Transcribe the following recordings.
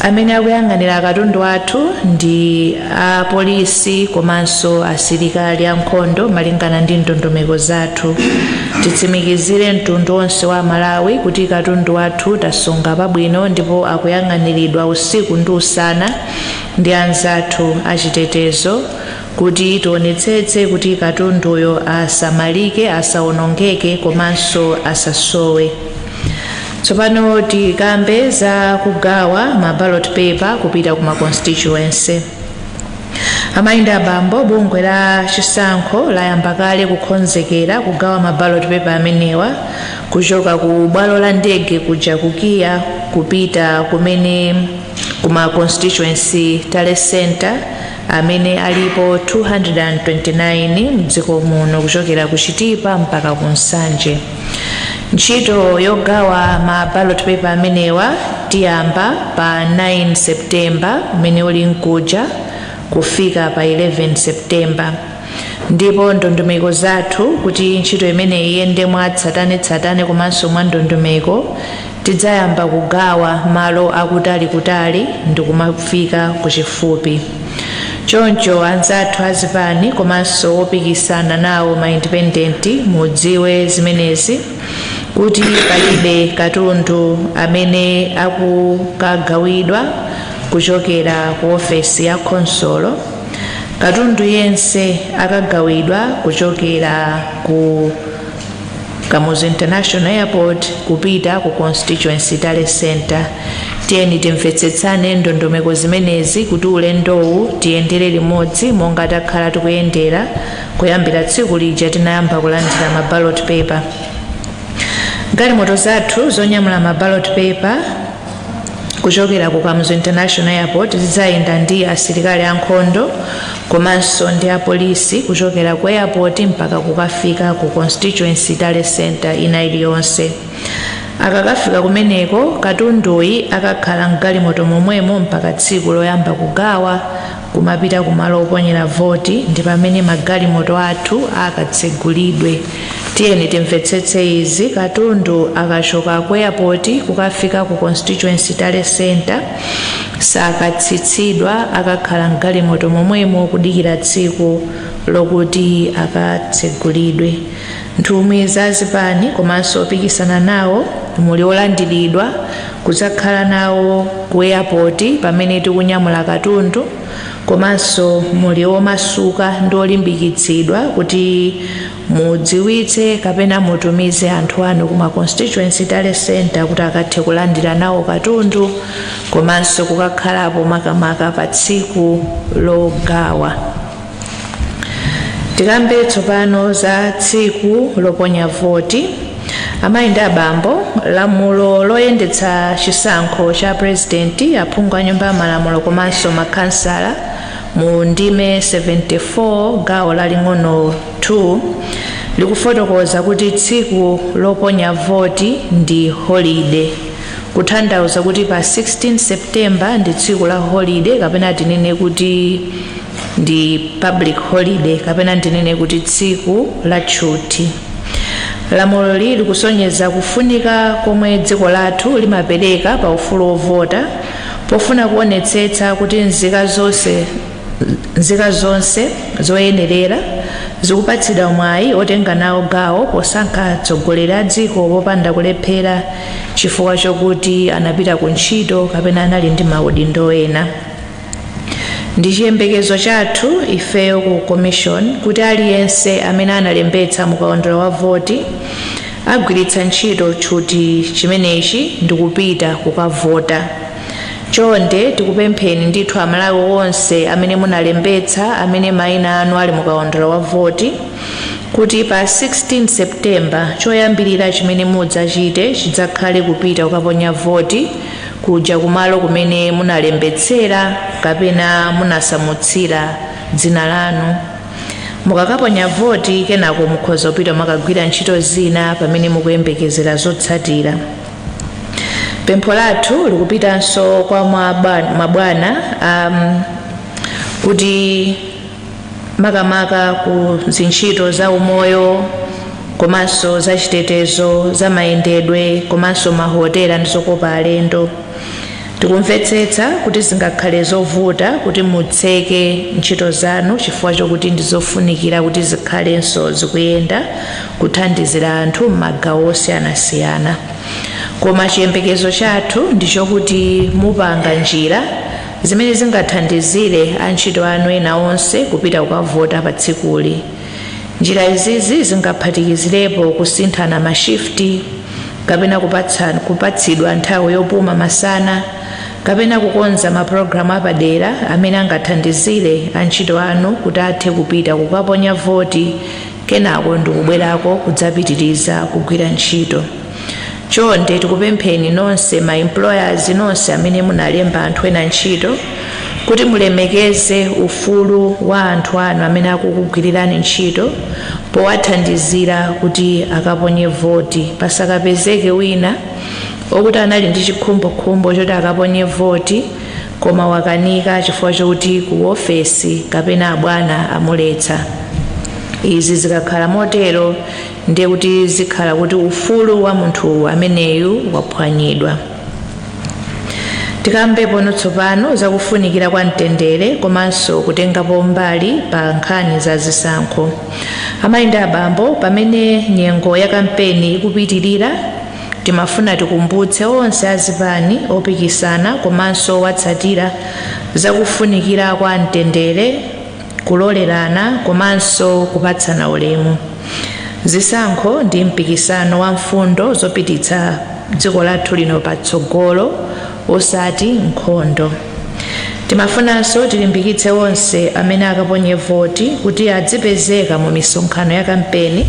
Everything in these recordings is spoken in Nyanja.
amene akuyang'anira katundu athu ndi apolisi komanso asilikali ankhondo malingana ndi ndondomeko zathu titsimikizire mtundu onse wa amalawi kuti katundu athu tasunga pabwino ndipo akuyang'aniridwa usiku ndi usana ndi anzathu achitetezo kuti tionetsetse kuti katunduyo asamalike asawonongeke komanso asasowe Tsopano tikambe za kugawa ma ballot paper kupita ku ma constituency. Amayi ndi abambo, bungwe la chisankho layamba kale kukhonzekera kugawa ma ballot paper amenewa kuchoka ku bwalo la ndege kuja ku KIA kupita kumene ku ma constituency tally center amene alipo 229 mdziko muno kuchokera ku Chitipa mpaka ku Nsanje. Ntchito yogawa ma ballot paper amenewa tiyamba pa 9 September umene uli mkuja kufika pa 11 September ndipo ndondomeko zathu kuti ntchito imeneyi iyende mwa tsatane-tsatane komanso mwa ndondomeko Tidzayamba kugawa malo akutali kutali ndikumafika kuchifupi. Choncho anzathu azipani komanso opikisana nawo ma independent mudziwe zimenezi kuti palibe katundu amene akukagawidwa kuchokera ku ofesi ya khonsolo. Katundu yense akagawidwa kuchokera ku. kamuzu international airport kupita ku constituency tally center tiyeni timvetsetsane ndondomeko zimenezi kuti ulendowu tiyendere limodzi monga takhala tikuyendera kuyambira tsiku lija tinayamba kulandira ma ballot paper galimoto zathu zonyamula ma ballot paper kuchokera ku kamuzu international airport zidzayenda ndi asilikali ankhondo komanso ndi apolisi kuchokera ku airport mpaka kukafika ku constituency tally center ina iliyonse akakafika kumeneko katunduyi akakhala mgalimoto momwemo mpaka tsiku loyamba kugawa kumapita ku malo oponyera voti ndi pamene magalimoto athu akatsegulidwe. Tiyeni timvetsetse izi, katundu akachoka ku airport kukafika ku constituency tally center sakatsitsidwa akakhala mgalimoto momwemo kudikira tsiku lokuti akatsegulidwe. nthumwi za zipani komanso opikisana nawo muli olandiridwa kudzakhala nawo ku eyapoti pamene tikunyamula katundu komanso muli omasuka ndi olimbikitsidwa kuti mudziwitse kapena mutumize anthu anu kuma constituency tally center kuti akathe kulandira nawo katundu komanso kukakhalapo makamaka pa tsiku logawa tikambe tsopano za tsiku loponya voti amayi ndi abambo lamulo loyendetsa chisankho cha purezidenti aphungu a nyumba ya malamulo komanso makhansala mu ndime 74 gawo laling'ono 2 likufotokoza kuti tsiku loponya voti ndi holide kutanthauza kuti pa 16 september ndi tsiku la holide kapena tinene kuti ndi public holiday kapena ndinene kuti tsiku la tchuthi lamuloli likusonyeza kufunika komwe dziko lathu limapereka pa ufulu wovota pofuna kuonetsetsa kuti nzika zonse zoyenerera zikupatsidwa mwayi otenga nawo gawo posankha atsogoleri a dziko popanda kulephera chifukwa chokuti anapita ku ntchito kapena anali ndi maudindo ena Ndi chiyembekezo chathu ifeyo ku Commission kuti aliyense amene analembetsa mu kaundula wa voti agwiritsa ntchito tchuthi chimenechi ndikupita kukavota. Chonde tikupempheni ndithu Amalawi onse amene munalembetsa amene maina anu ali mu kaundula wa voti kuti pa 16 September choyambirira chimene mudzachite chidzakhale kupita kukaponya voti kuja kumalo kumene munalembetsera kapena munasamutsira dzina lanu mukakaponya voti kenako mukhoza kupita kukagwira ntchito zina pamene mukuyembekezera zotsatira pempho lathu likupitanso kwa mabwana um, kuti makamaka ku zintchito za umoyo komanso za chitetezo za mayendedwe komanso mahotela ndi zokopa alendo tikumvetsetsa kuti zingakhale zovuta kuti mutseke ntchito zanu chifukwa chokuti ndi zofunikira kuti zikhalenso zikuyenda kuthandizira anthu m'magawo osiyanasiyana koma chiyembekezo chathu ndi chokuti mupanga njira Zimene zingathandizire antchito anu ena onse kupita kukavota pa tsikuli. Njira izizi zingaphatikizirepo kusinthana ma shift, kapena kupatsidwa nthawi yopuma masana, kapena kukonza ma pulogalamu apadera amene angathandizire antchito anu kuti athe kupita kukaponya voti kenako ndikubwerako kudzapitiriza kugwira ntchito. chonde tikupempheni nonse ma employers nonse amene munalemba anthu ena ntchito kuti mulemekeze ufulu wa anthu anu amene akukugwirirani ntchito powathandizira kuti akaponye voti pasakapezeke wina okuti anali ndi chikhumbokhumbo choti akaponye voti koma wakanika chifukwa chokuti ku ofesi kapena abwana amuletsa izi zikakhala motero ndiye kuti zikhala kuti ufulu wa munthu ameneyu waphwanyidwa tikambepo pano tsopano zakufunikira kwa mtendere komanso kutengapo mbali pa nkhani za zisankho amayi ndi abambo pamene nyengo ya kampeni ikupitirira timafuna tikumbutse onse azipani opikisana komanso owatsatira zakufunikira kwa mtendere kulolerana komanso kupatsana ulemu. Zisankho ndi mpikisano wa mfundo zopititsa dziko lathu lino patsogolo osati nkhondo. Timafunanso tilimbikitse onse amene akaponye voti kuti adzipezeka mu misonkhano ya kampeni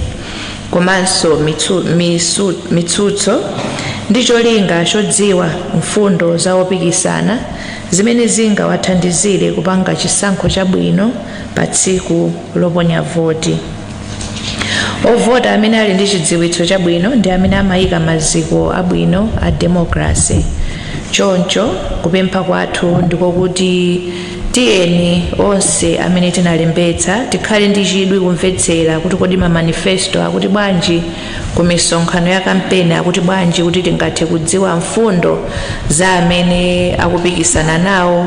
komanso mitsu- misu- mitsutso ndi cholinga chodziwa mfundo za opikisana zimene zingawathandizire kupanga chisankho chabwino pa tsiku loponya voti. Ovota amene ali ndi chidziwitso chabwino ndi amene amayika maziko abwino a demokrase. Choncho, kupempha kwathu ndiko kuti tiyeni onse amene tinalembetsa tikhale ndi chidwi kumvetsera kuti kodi mamanifesto akuti bwanji ku misonkhano ya kampeni akuti bwanji kuti tingathe kudziwa mfundo za amene akupikisana nawo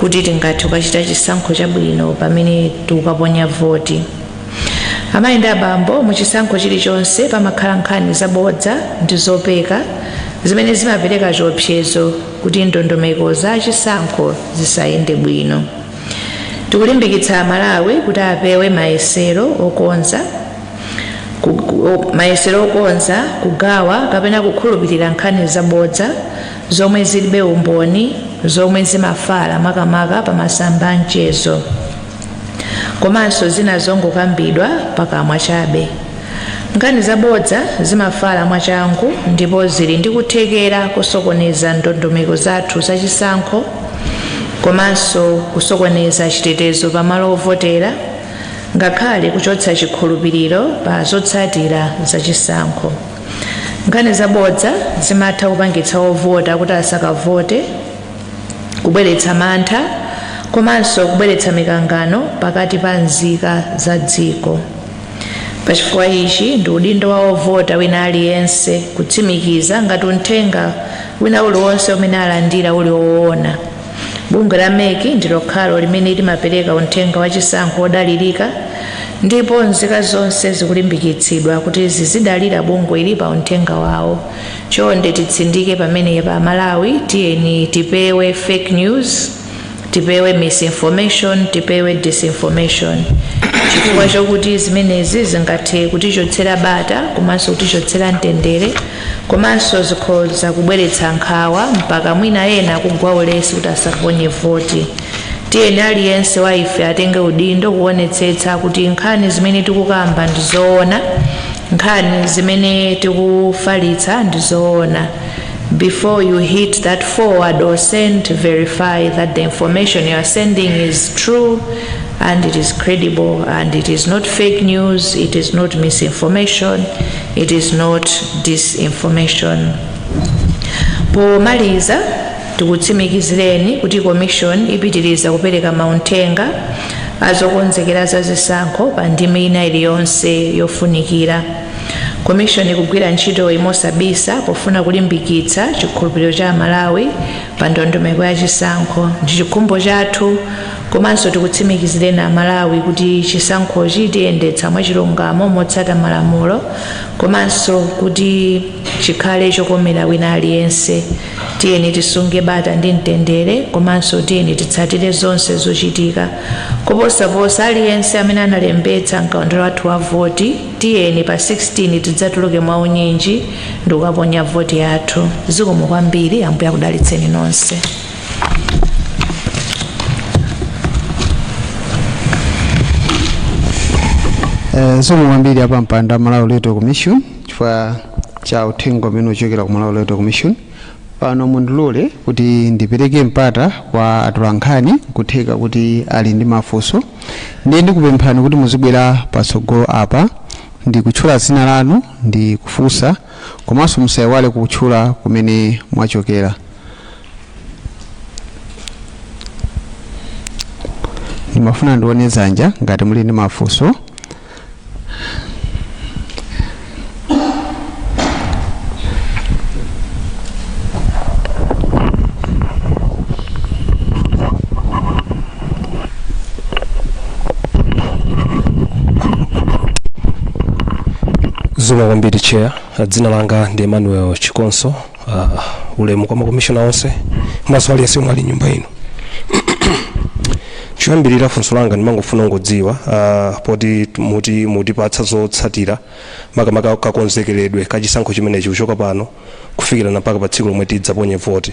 kuti tingathe kukachita chisankho chabwino pamene tikukaponya voti amayi ndi abambo mu chisankho chilichonse pamakhala nkhani zabodza ndi zopeka zimene zimapereka chiopsezo kuti ndondomeko za chisankho zisayende bwino tikulimbikitsa aMalawi kuti apewe mayesero okonza mayesero okonza kugawa kapena kukhulupirira nkhani zabodza zomwe zilibe umboni zomwe zimafala makamaka pa masamba a mchezo komanso zina zongokambidwa pakamwa chabe nkhani zabodza zimafala mwachangu ndipo zili ndi kuthekera kosokoneza ndondomeko zathu zachisankho komanso kusokoneza chitetezo pamalo ovotera ngakhale kuchotsa chikhulupiriro pa zotsatira za chisankho nkhani zabodza zimatha kupangitsa ovota kuti asakavote kubweretsa mantha komanso kubweretsa mikangano pakati pa nzika za dziko pachifukwa ichi ndi udindo wa ovota wina aliyense kutsimikiza ngati uthenga wina uliwonse umene alandira uli woona Bungwe la mec ndi lokhalo limene limapereka unthenga wa chisankho wodalirika ndipo nzika zonse zikulimbikitsidwa kuti zizidalira bungweli pa unthenga wawo. Chonde titsindike pamenepa Amalawi tiyeni tipewe fake news, tipewe misinformation, tipewe disinformation chifukwa chokuti zimenezi zingathe kutichotsera bata komanso kutichotsera mtendere komanso zikhoza kubweretsa nkhawa mpaka mwina ena kugwa ulesi kuti asaponye voti tiyeni aliyense wa ife atenge udindo kuonetsetsa kuti nkhani zimene tikukamba ndi zoona nkhani zimene tikufalitsa ndi zoona before you hit that forward or send verify that the information you are sending is true and it is credible and it is not fake news it is not misinformation It is not disinformation. Pomaliza tikutsimikizireni kuti Commission ipitiriza kupereka maunthenga azokonzekera za zisankho pa ndime ina iliyonse yofunikira. Commission ikugwira ntchitoyi mosabisa pofuna kulimbikitsa chikhulupiriro cha Amalawi pa ndondomeko ya chisankho. Ndi chikhumbo chathu Komanso tikutsimikizireni Amalawi kuti chisankhochi tiyendetsa mwachilungamo motsata malamulo komanso kuti chikhale chokomera wina aliyense. Tiyeni tisunge bata ndi mtendere komanso tiyeni titsatire zonse zochitika. Koposaposa, aliyense amene analembetsa m'kaundula wathu wa voti, tiyeni pa 16 tidzatuluke mwaunyinji ndikukaponya voti yathu. Zikomo kwambiri. Ambuye akudalitseni nonse. Eh, zikomo kwambiri apampando a Malawi Electoral Commission chifukwa cha uthenga umene ukuchokera ku Malawi Electoral Commission pano mundilole kuti ndipereke mpata kwa atolankhani nkutheka kuti ali ndi mafunso ndiye ndikupemphani kuti muzibwera patsogolo apa ndi kutchula dzina lanu ndi kufunsa komanso musayiwale kutchula kumene mwachokera ndimafuna ndione dzanja ngati muli ndi mafunso zikomo kwambiri chair dzina langa ndi emmanuel chikonso uh, ulemu kwa makomishona onse komanso aliyense omwe ali nyumba ino choyambirira funso langa ndimangofuna kungodziwa uh, poti muti mutipatsa zotsatira makamaka kakonzekeredwe ka chisankho chimenechi kuchoka pano kufikira mpaka pa tsiku lomwe tidzaponye voti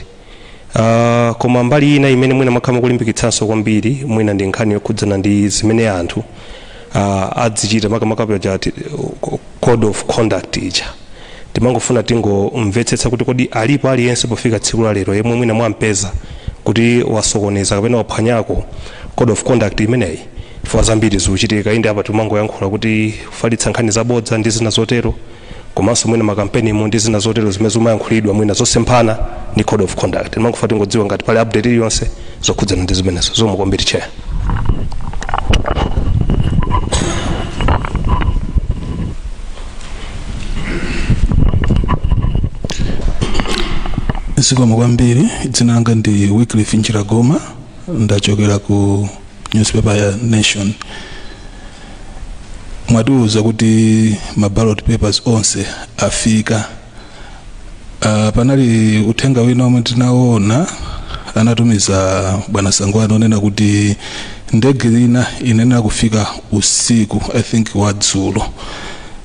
Uh, koma mbali ina imene mwina mwakhala mukulimbikitsanso kwambiri mwina ndi nkhani yokhudzana ndi zimene anthu uh, azichita makamaka paja ati, uh, code of conduct ija timangofuna tingomvetsetsa kuti kodi alipo aliyense pofika tsiku la lero yemwe mwina mwampeza kuti wasokoneza kapena waphwanyako code of conduct imeneyi chifukwa zambiri zikuchitika inde apa timangoyankhula kuti kufalitsa nkhani zabodza ndi zina zotero komanso mwina makampenimu ndi zina zotero zimene zikumayankhulidwa mwina zosemphana ndi code of conduct timangofuna tingodziwa ngati pali update iliyonse zokhudzana ndi zimenezo zikomo kwambiri chair zikomo kwambiri dzina langa ndi wycliffe njiragoma ndachokera ku newspaper ya nation mwatiuza kuti ma ballot papers onse afika uh, panali uthenga wina omwe tinaona anatumiza bwana sangwani onena kuti ndege ina inayenera kufika usiku i think wadzulo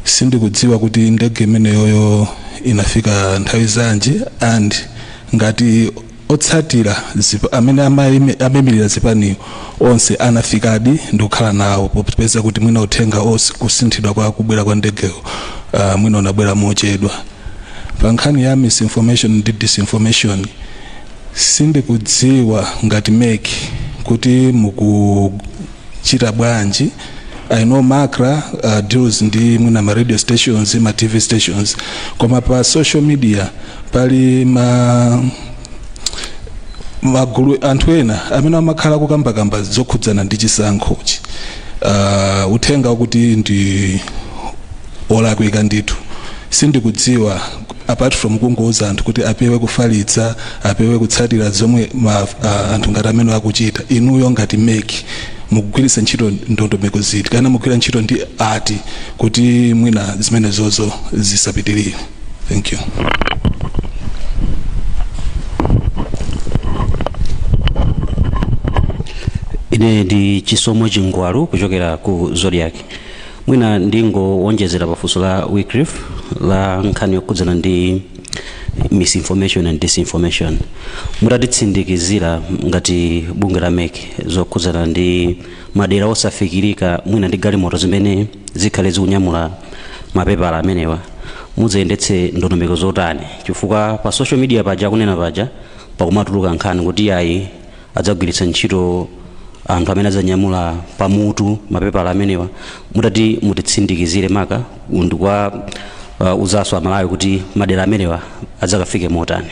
sindikudziwa kuti ndege imeneyoyo inafika nthawi yanji and ngati Otsatira zip amene amaime amaimirira zipani onse anafikadi ndi kukhala nawo popeza kuti mwina uthenga os kusinthidwa kwa kubwera kwa ndegeyo ah, mwina unabwera mochedwa. Pa nkhani ya misinformation ndi disinformation sindikudziwa ngati mec kuti muku chita bwanji i know macra uh, deals ndi mwina ma radio stations ma tv stations koma pa social media pali ma magulu a anthu ena amene amakhala kukambakamba zokhudzana ndi chisankhochi uh, uthenga kuti ndi olakwika ndithu sindikudziwa apart from kungouza anthu kuti apewe kufalitsa apewe kutsatira zomwe ma, uh, anthu ngati amenewa akuchita inuyo ngati mek mukugwiritsa ntchito ndondomeko ziti kana mukugwira ntchito ndi ati kuti mwina zimenezozo zisapitirire thank you ine ndi chisomo chingwalu kuchokera ku zodiac mwina ndingowonjezera pafunso la wyclif la nkhani yokhudzana ndi misinformation and disinformation mutatitsimikizira ngati bungwe la mek zokhudzana ndi madera osafikirika mwina ndi galimoto zimene zikhale zikunyamula mapepala amenewa mudzayendetse ndondomeko zotani chifukwa pa social media paja akunena paja pakumatuluka nkhani kuti ayi adzagwiritsa ntchito anthu amene adzanyamula pamutu mapepala amenewa mutati mutitsimikizire maka ndi kwa uh, mzika za malawi kuti madera amenewa adzakafike motani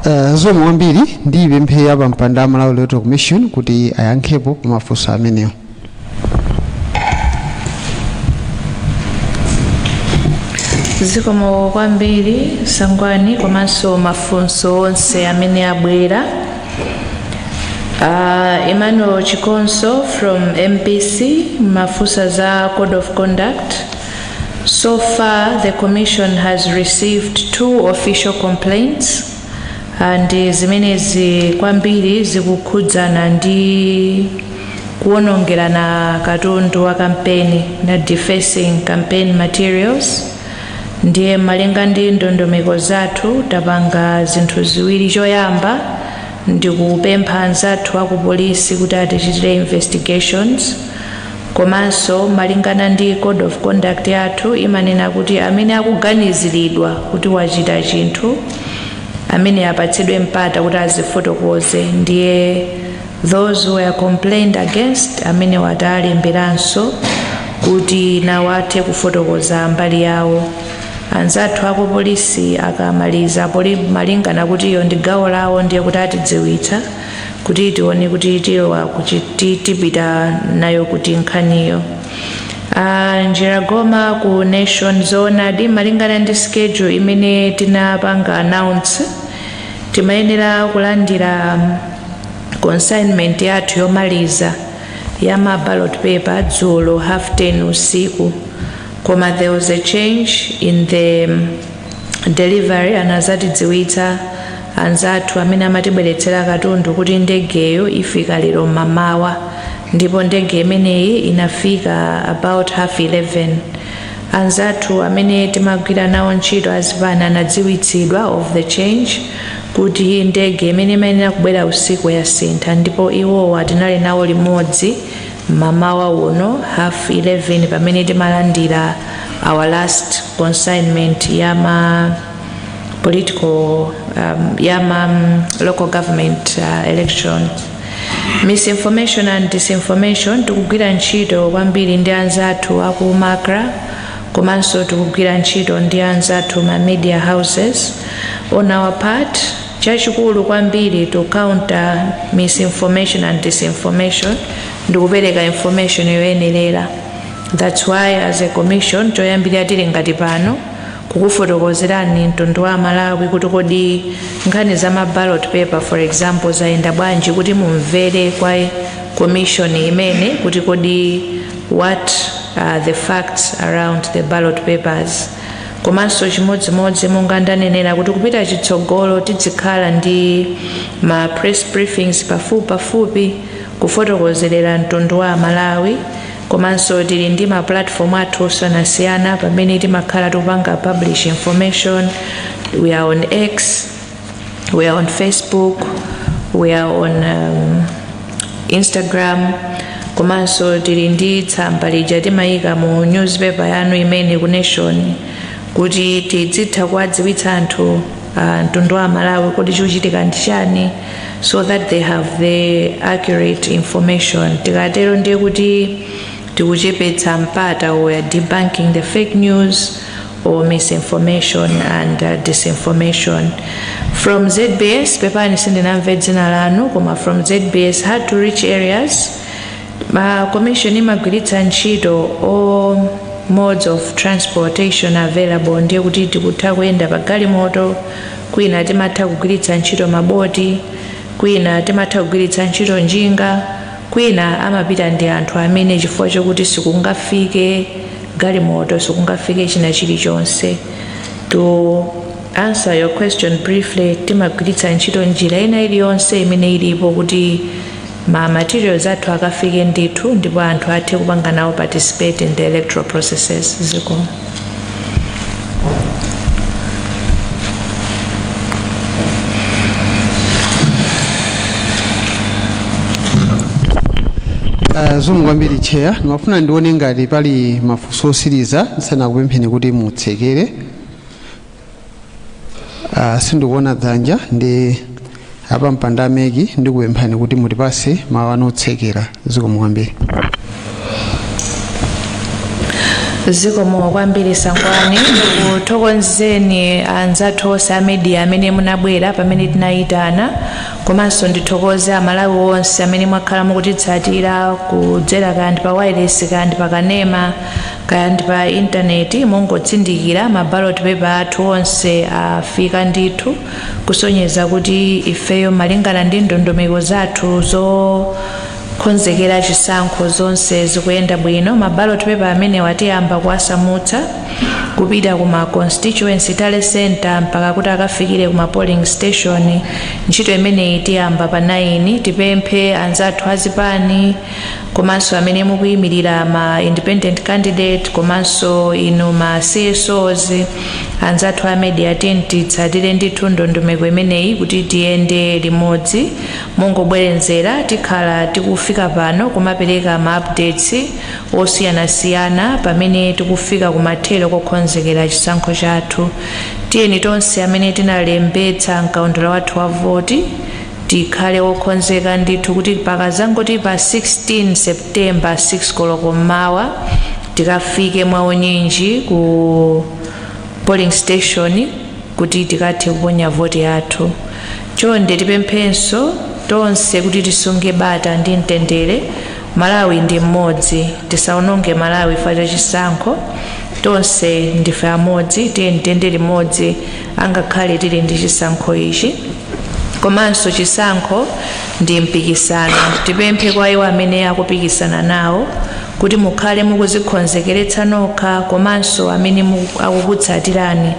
Uh, zikomo kwambiri ndipemphe a pampando a malawi electoral commission kuti ayankhepo pa mafunso amenewo zikomo kwambiri sangwani komanso mafunso onse amene abwera uh, emmanuel chikonso from mbc munafunsa za code of conduct so far the commission has received two official complaints And zimenezi kwambiri zikukhudzana ndi kuwonongerana katundu wa kampeni na defacing campaign materials ndiye malinga ndi ndondomeko zathu tapanga zinthu ziwiri choyamba ndi kupempha anzathu akupolisi kuti atichitire investigations Komanso malingana ndi code of conduct yathu imanena kuti amene akuganiziridwa kuti wachita chinthu chimene apatsidwe mpata kuti adzifotokoze ndiye those who were complained against amene tawalemberanso kuti nawo athe kufotokoza mbali yawo anzathu aku polisi akamaliza poli malingana kuti iyo ndi gawo lawo ndiye kuti atidziwitsa kuti tione kuti tilowa kuti ti- tipita nayo kuti nkhaniyo Ah, Njiragoma ku Nation zoonadi malingana ndi schedule imene tinapanga announce timayenera kulandira mm, consignment yathu yomaliza ya ma ballot paper dzulo half 10 usiku koma there was a change in the mm, delivery anazatidziwitsa Anzathu amene amatibweretsera katundu kuti ndegeyo ifika lero mmamawa ndipo ndege imeneyi inafika about half 11. Anzathu amene timagwira nawo ntchito azipani anadziwitsidwa of the change kuti ndege imene imayenera kubwera usiku yasintha ndipo iwowa tinali nawo limodzi mmamawa uno half 11 pamene timalandira our last consignment ya ma political um, yama um, local government uh, elections misinformation and disinformation tikugwira ntchito kwambiri ndi anzathu aku MACRA komanso tikugwira ntchito ndi anzathu ma media houses on our part chachikulu kwambiri to counter misinformation and disinformation ndikupereka information yoyenerera that's why as a commission choyambirira tili ngati pano kukufotokozerani mtundu wa amalawi kuti kodi nkhani za ma ballot paper for example zayenda bwanji kuti mumvere kwa commission imene kuti kodi what are the facts around the ballot papers komanso chimodzimodzi monga ndanenera kuti kupita chitsogolo tidzikhala ndi ma press briefings pafupi pafupi kufotokozerera mtundu wa amalawi Komanso tili ndi ma platform athu osiyanasiyana pamene timakhala tikupanga publish information, we are on X, we are on Facebook, we are on um, Instagram komanso tili ndi tsamba lija timayika mu newspaper yanu imene ku Nation kuti tidzitha kuwadziwitsa anthu ah, mtundu wa amalawi kuti chikuchitika ndi chani so that they have the accurate information tikatero ndiye kuti tikuchepetsa mpata we are debunking the fake news or misinformation and uh, disinformation from ZBS pepani sindinamve dzina lanu koma from ZBS hard to reach areas ma commission imagwiritsa ntchito all modes of transportation available ndiye kuti tikutha kuyenda pa galimoto kwina timatha kugwiritsa ntchito maboti, kwina timatha kugwiritsa ntchito njinga, kwina amapita ndi anthu amene chifukwa chokuti sikungafike galimoto, sikungafike china chilichonse. To answer your question briefly, timagwiritsa ntchito njira ina iliyonse imene ilipo kuti ma materials athu akafike ndithu ndipo anthu athe kupanga nawo participate in the electoral processes zikomo. Uh, zikomo kwambiri chair ndimafuna ndione ngati pali mafunso otsiriza ndisanakupempheni kuti mutsekere Ah, sindikuona dzanja ndi apampando a MEC ndikupemphani kuti mutipatse mawu anu otsekera zikomo kwambiri zikomo kwambiri sangwani ndikuthokozeni anzathu onse a media amene munabwera pamene tinayitana komanso ndithokoze amalawi onse amene mwakhala mukutitsatira kudzera kaya ndi pa wailesi kaya ndi pa kanema Kaya ndi pa intaneti, mongotsindikira, ma ballot paper athu onse afika ndithu, kusonyeza kuti ifeyo malingana ndi ndondomeko zathu zokonzekera chisankho zonse zikuyenda bwino. Ma ballot paper amenewa tiyamba kuwasamutsa kupita ku ma constituency tally centre mpaka kuti akafikire ku ma polling station. Ntchito imeneyi tiyamba pa 9. Tipemphe anzathu azipani komanso amene mukuyimirira ma independent candidate komanso inu ma csos anzathu a media tiyeni titsatire ndithu ndondomeko imeneyi kuti tiyende limodzi mongobwerezera tikhala tikufika pano kumapereka ma updates osiyanasiyana pamene tikufika kumathero kokonzekera chisankho chathu tiyeni tonse amene tinalembetsa mkaundula wathu wa voti Tikhale okonzeka ndithu kuti pakadzangoti pa 16 September 6 koloko m'mawa, tikafike mwaunyinji ku polling station kuti tikathe kuponya voti yathu. Chonde tipemphenso tonse kuti tisunge bata ndi mtendere. Malawi ndi mmodzi. Tisawononge Malawi chifukwa cha chisankho. Tonse ndife amodzi. Tiyeni tiyende limodzi angakhale tili ndi chisankho ichi. komanso chisankho ndi mpikisano tipemphe kwa iwo amene akupikisana nawo kuti mukhale mukudzikonzekeretsa nokha komanso amene mu- akukutsatirani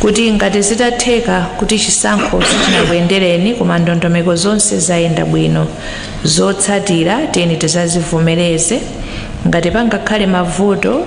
kuti ngati zitatheka kuti chisankho sichinakuyendereni koma ndondomeko zonse zayenda bwino zotsatira tiyeni tidzazivomereze ngati pangakhale mavuto